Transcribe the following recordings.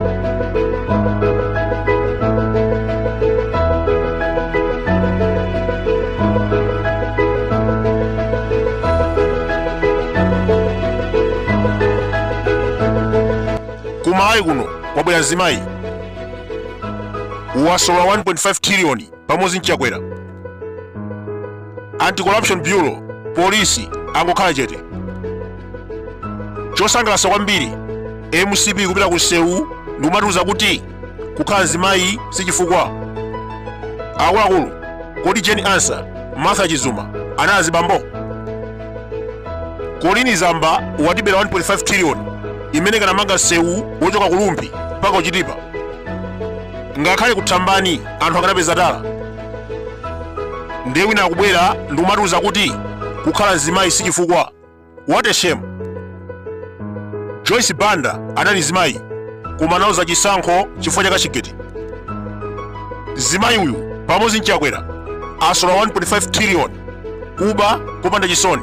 ku malawi kuno kwabwera mzimayi wasola 1.5 triliyoni pamodzi nchakwera anti-corruption bureau polisi angokhala chete chosangalatsa kwambiri mcp kupita ku msewu ndikumatiuza kuti kukhala mzimayi si chifukwa akuluakulu kodi jane ansah martha chizuma anali azibambo colleen zamba watibera 1.5 trillion imene ikanamanga msewu wochoka kulumbi mpaka kuchitipa ngakhale ku thambani anthu akanapeza tala ndiye wina akubwera ndikumatiuza kuti kukhala mzimayi si chifukwa what a shame joyce banda anali mzimayi koma analuza chisankho chifukwa cha cashgate mzimayi uyu pamodzi nchakwera asola 1.5 trillion kuba kopanda chisoni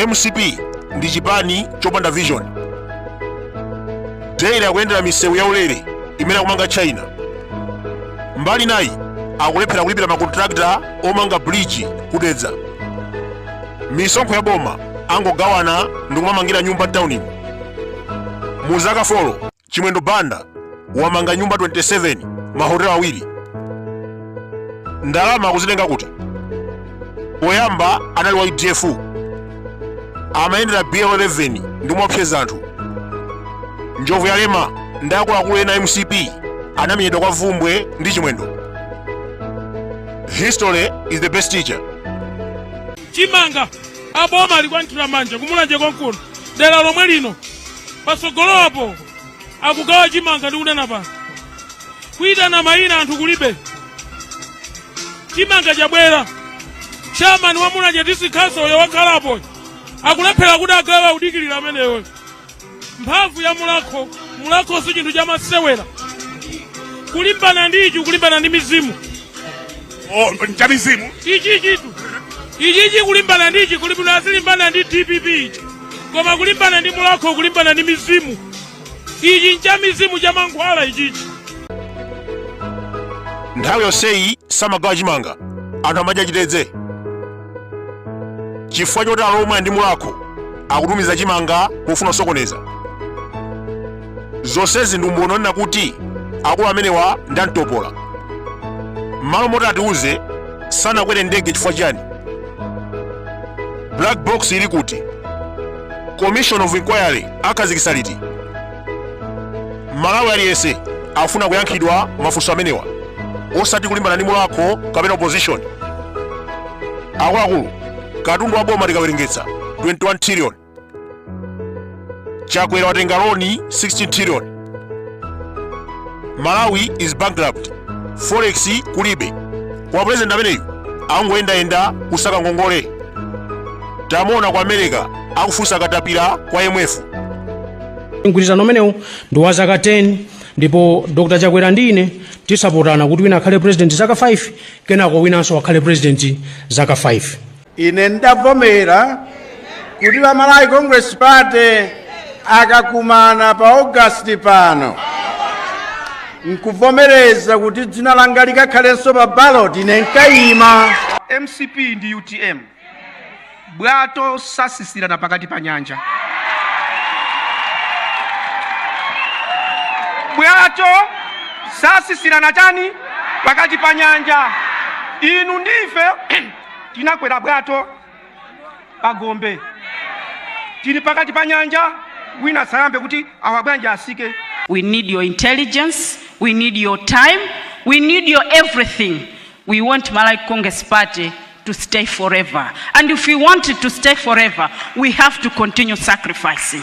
mcp ndi chipani chopanda vision daily akuyendera misewu yaulere imene akumanga china mbali nayi akulephera kulipira makontrakta omanga bridge kudedza misonkho ya boma angogawana ndi kumamangira nyumba mtaunimu mu zaka 4 chimwendo banda wamanga nyumba 27 mahotelo awiri ndalama akuzitenga kuti poyamba anali wa udf amayendera bl 11 ndikumaopseza anthu njobvuyalema ndi akuluakulu ena a mcp anamenyedwa kwa vumbwe ndi chimwendo history is the best teacher chimanga aboma alikuwathira manja kumulanje konkuno dera lomwe lino patsogolopo akugawa chimanga ndi kunena pano kuitana mayina anthu kulibe chimanga chabwera chairman wa mulanje district council uyo wakhalapo akulephera kuti agawe akudikirira ameneyo mphamvu ya mulhako mulhako si chinthu chamasewera kulimbana ndi ichi kulimbana ndi mizimu Oh, ncha mizimu ichichitu ichichi kulimbana ndi ichi kulimbana azilimbana ndi dpp ichi koma kulimbana ndi mulhako kulimbana ndi mizimu ichi ncha mizimu cha mankhwala ichichi nthawi yonseyi samagawa chimanga anthu amadya chitedze chifukwa choti alomwe ndi mulhako akutumiza chimanga pofuna kusokoneza zonsezi ndi umboni onena kuti akulu amenewa ndi amtopola m'malo moti atiuze sanakwere ndege chifukwa chani black box ili kuti commission of inquiry akhazikitsa liti malawi aliyense afuna kuyankhidwa mafunso amenewa osati kulimbana ndi Mulhako kapena opposition akuluakulu katundu wa boma tikawerengetsa 21 trillion chakwera watenga loni 16 trillion malawi is bankrupt forex kulibe kwa president ameneyu angoyendayenda kusaka ngongole tamuona ku america akufunsa katapira kwa imf mgwirizano umenewu ndi wa zaka 10 ndipo dr chakwera ndi ine tinsapotana kuti wina akhale president zaka 5 kenako winanso akhale president zaka 5 ine ndavomera kuti a Malawi congress party akakumana pa augasti pano nkuvomereza kuti dzina langa likakhalenso pa ballot ine nkayima mcp ndi utm bwato satsitsirana pakati pa nyanja bwato satsitsirana chani pakati pa nyanja inu ndife tinakwera bwato pa gombe tili pakati pa nyanja wina sayambe kuti awa bwanji asike We need your intelligence. We need your time. We need your everything. We want Malawi Congress Party to stay forever. And if we want it to stay forever, we have to continue sacrificing.